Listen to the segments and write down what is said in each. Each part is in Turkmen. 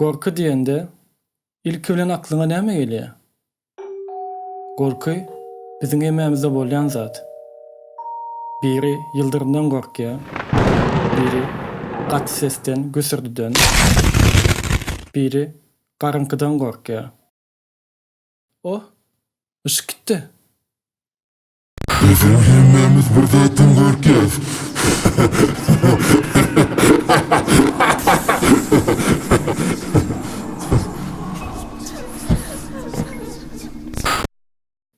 Gorky diýende, ilki bilen aklyňa näme gelýär? Gorky, biziň hemmämizde bolýan zat. Biri ýyldyrymdan gorkýar, biri gaty sesden, güsürdiden, biri garynkydan gorkýar. Oh, yşyk gitdi. Biziň hemmemiz bir zatdan gorkýas.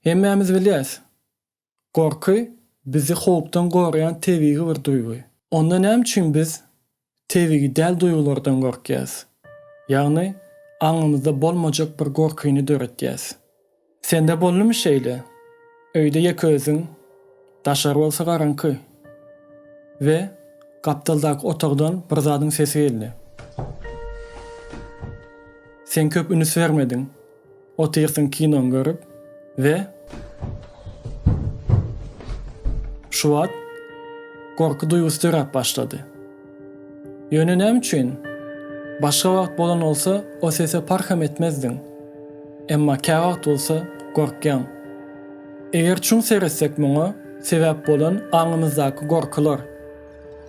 Hemmämiz bilýäs, gorky bizi howpdan goraýan tebigy bir duýgy. Onda näme üçin biz Tebigy däl duýgulardan gorkýas. Ýagny, aňymyzda bolmajak bir gorkyny döretýäs. Sende boldumy şeýle? Öýde ýeke özüň, daşary bolsa garaňky. We gapdaldaky otagdan bir zadyň sesi geldi. Sen köp üns bermediň. Otyrsyň kinoňy görüp we şu wagt gorky duýgusy döräp başlady. Ýöne näme üçin? Başga wagt bolan bolsa o sese parham etmezdiň. Emma käwagt bolsa gorkýaň. Eger çuň seretsek muňa sebäp bolan aňymyzdaky gorkular.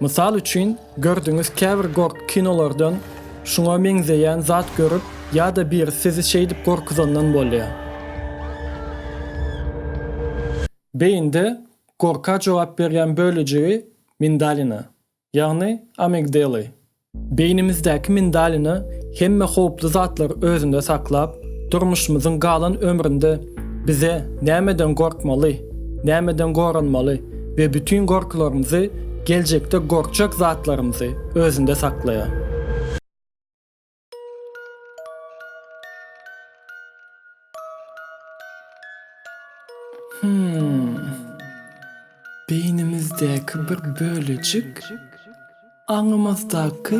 Mysal üçin, Gördüňiz käbir gorky kinolardan şuňa meňzeýän zat görüp ýada biri sizi şeýdip gorkuzandan bolýa. Beýinde gorka jogap berýän bölejigi mindalina, ýagny amigdeli. Beýnimizdäki mindalina hemme howply zatlary özünde saklap, durmuşymyzyň galan ömründe Bize nämeden gorkmaly, nämeden goranmaly we bütin gorkylarymyzy, geljekde gorkjek zatlarymyzy özünde saklaýar. Hum. Beýnimizdäki bir bölejik. Aňymyzdaky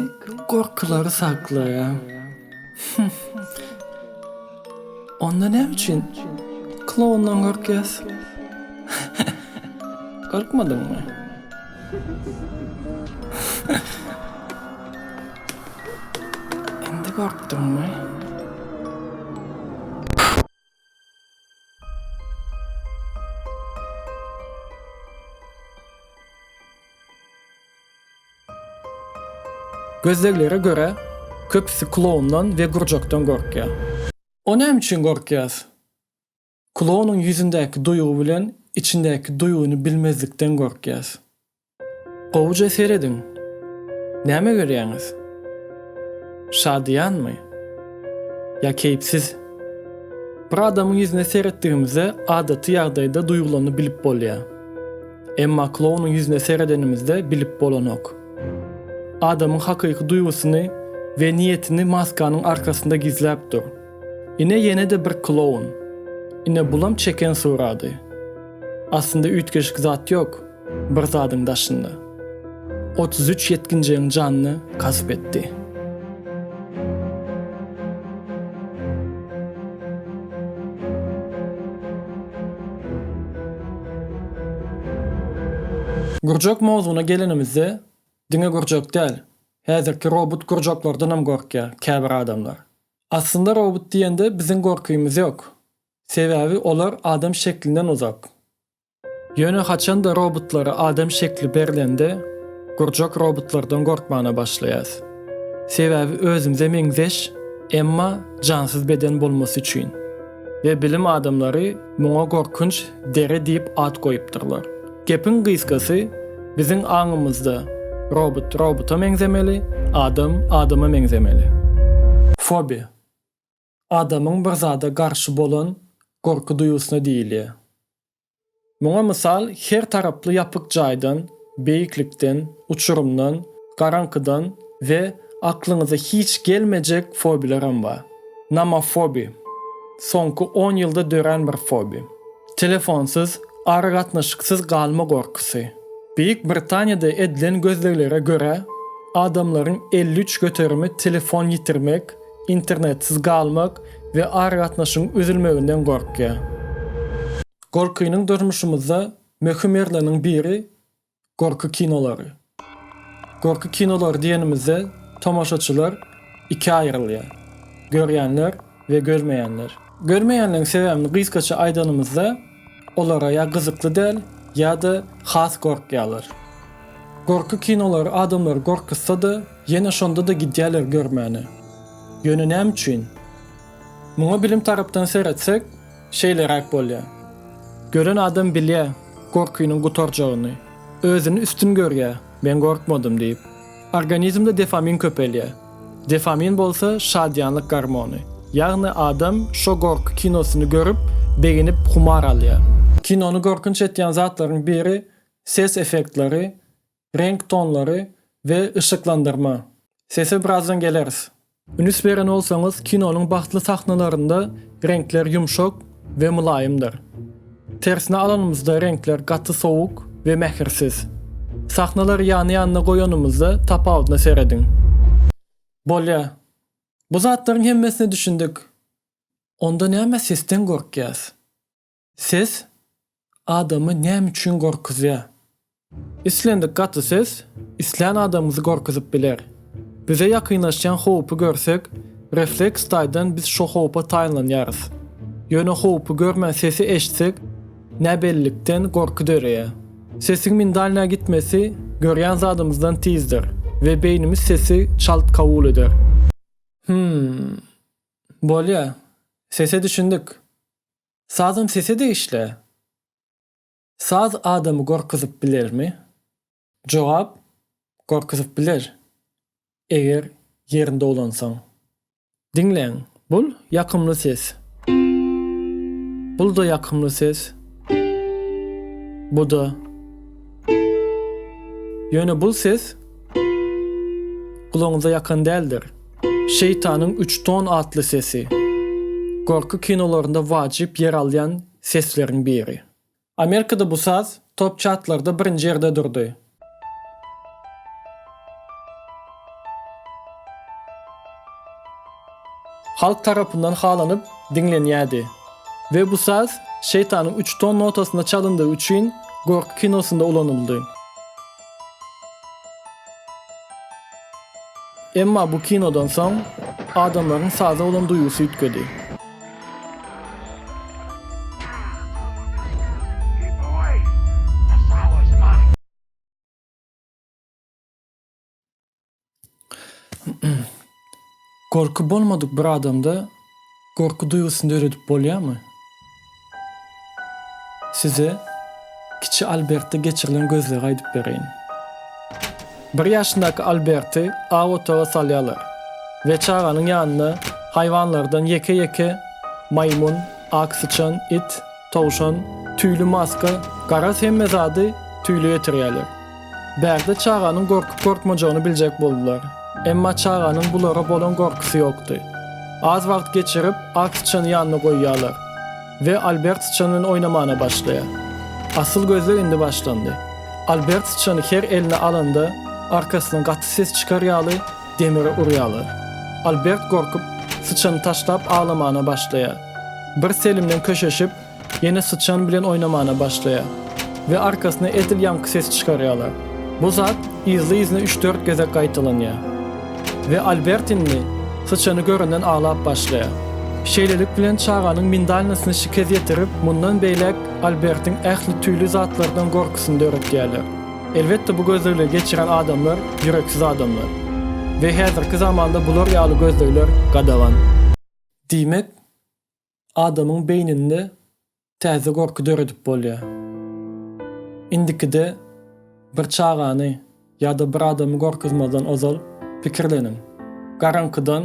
gorkylary saklaýar. Hüh. Onda näme üçin kloundan gorkýas? Gorkmadyňmy? Indi gorkduňmy? Gözleglere görä, köpüsi kloundan we gurjakdan gorkýar. O näme üçin gorkýas? Klounun ýüzündäki duýgy bilen içindäki duýgyny bilmezlikden gorkýas. Gowuja serediň. Näme görýäňiz? Şadyýanmy? Ýa keýpsiz? Bir adamyň ýüzüne seretdigimizde adaty ýagdaýda duýgulany bilip bolýar. Emma klounyň ýüzüne seredenimizde bilip bolanok. Adamyň hakyky duýgusyny we niýetini maskanyň arkasynda gizläp dur. Ine ýene-de bir kloun. Ine bulam çeken surady. Aslynda üýtgeşik zat ýok. Bir zadyň daşynda. Otuz üç ýetginjegiň janyny gasp etdi. Gurjak mowzugyna gelenimizde, diňe gurjak däl, häzirki robut gurjaklardanam gorkýar käbir adamlar. Aslynda robut diýende biziň gorkymyz ýok. Sebäbi olar adam şeklinden uzak. Ýöne haçanda robotlara adam şekli berlende gurjak robotlardan gorkmana başlaýas. Sebäbi özümize meňzeş emma jansyz beden bolmasy üçin. We bilim adamlary muňa gorkunç deri diýip at goýupdyrlar. Gepiň gysgasy biziň aňymyzda robot robota meňzemeli, adam adama meňzemeli. Fobi. Adamyň bir zada garşy bolan gorky duýgusyna diýilýär. Muňa mysal her taraply ýapyk jaýdan, beýiklikden, uçurymdan, garaňkydan we aklyňyza hiç gelmejek fobiýalar hem bar. Nomofobiýa, soňky on ýylda dörän bir fobiýa. Telefonsyz, aragatnaşyksyz galma gorkusy. Beýik Britaniýada edilen gözleglere görä, adamlaryň elli üç göterimi telefon ýitirmek, Internetsiz galmak we aragatnaşygyň üzülmeginden gorkýar. Gorkynyň durmuşymyzda möhüm ýerleriniň biri gorky kinolary. Gorky kinolary diýenimizde tomaşaçylar ikä aýrylýar, görýänler we görmeýänler. Görmeýänleriň sebäbini gysgaça aýdanymyzda, Olara ýa gyzykly däl, ýa-da has gorkýarlar. Gorky kinolary adamlary gorkuzsa-da, ýene şonda-da gidýärler görmäne. Ýöne näme üçin? Muňa bilim tarapdan seretsek, şeýleräk bolýar. Gören adam bilýär gorkynyň gutarjagyny. Özüni üstün görýär, men gorkmadym diýip. Organizmde dofamin köpelýär. Dofamin bolsa şadyýanlyk gormony. Ýagny adam şo gorky kinosyny görüp, begenip humar alýar. Kinony gorkunç etýän zatlaryň biri ses effektleri, reňk tonlary we yşyklandyrma. Sese birazdan geleris. Ünüs beren bolsaňyz, kinonyň bagtly sahnalarynda reňkler ýumşak we mylaýymdyr. Tersine alanymyzda reňkler gaty sowuk we mähirsiz. Sahnalary ýany-ýanyna goýanymyzda tapawudyna serediň. Bolýa. Bu zatlaryň hemmesine düşündik. Onda näme sesden gorkýas? Ses adamy näme üçin gorkuzýar? Islendik gaty ses islän adamyňyzy gorkuzyp biler. Bize ýakynlaşýan howpy görsek, refleks taýdan biz şo howpa taýynlanýarys. Ýöne howpy görmän sesi eşitsek, näbellilikden gorky döreýär. Sesiň mindalinä gitmesi görýän zadymyzdan tizdir we beýnimiz sesi çalt kabul eder. Hümm. Bolýar. Sese düşündik. Sazam sese degişli. Saz adamy gorkuzyp bilermi? Jogap, Gorkuzyp biler, eger ýerinde ulansaň. Diňläň. Bul ýakymly ses. Bul-da ýakymly ses. Bu-da. Ýöne bul ses gulagyňyza ýakan däldir. Şeýtanyň üç ton atly sesi. Gorky kinolarynda wajyp ýer alýan sesleriň biri. Amerikada bu saz top çartlarda birinji ýerde durdy. Halk tarapyndan halanyp diňlenýärdi we bu saz Şeýtanyň üç ton notasynda çalyndygy üçin Gorky kinosynda ulanyldy. Emma bu kinodan soň adamlaryň saza bolan duýgusy üýtgedi. Gorky bolmadyk bir adamda gorky duýgusyny döredip bolýarmy? Size kiçi Albertde geçirilen gözlegi aýdyp bereýin. Bir ýaşyndaky Alberti aw otaga salýarlar we çaganyň ýanyna haýwanlardan ýeke-ýeke maýmyn, ak syçan, it, Towşan, tüýli maska, garaz hemme zady tüýli getirýärler. Bärde çaganyň gorkup-gorkmajagyny biljek boldular. Emma çaganyň bulara bolan gorkusy ýokdy. Az wagt geçirip, ak syçany ýanyna goýýarlar we Albert syçan bilen oýnamana başlaýar. Asyl gözleg indi başlandy. Albert syçany her eline alanda, arkasyna gaty ses çykar ýaly, Demiri urýarlar. Albert gorkup, syçany taşlap aglamana başlaýar. Bir selimden köşeşip, ýene syçan bilen oýnamana başlaýar we arkasyna edil ýaňky sesi çykarýarlar. Bu zat yzly-yzyna üç-dört gezek gaýtalanýar. We Albert indi syçany görenden aglap başlaýar. Şeýlelik bilen çaganyň mindalinasyny şikes ýetirip, mundan beýläk Albertiň ähli tüýli zatlardan gorkusyny döretýärler. Elbetde bu gözlegleri geçiren adamlar ýüreksiz adamlar we häzirki zamanda bular ýaly gözlegler gadagan. Diýmek, adamyň beýninde täze gorky döredip bolýar. Indikide bir çagany ýa-da bir adamy gorkuzmazdan ozal pikirleniň. Garaňkydan.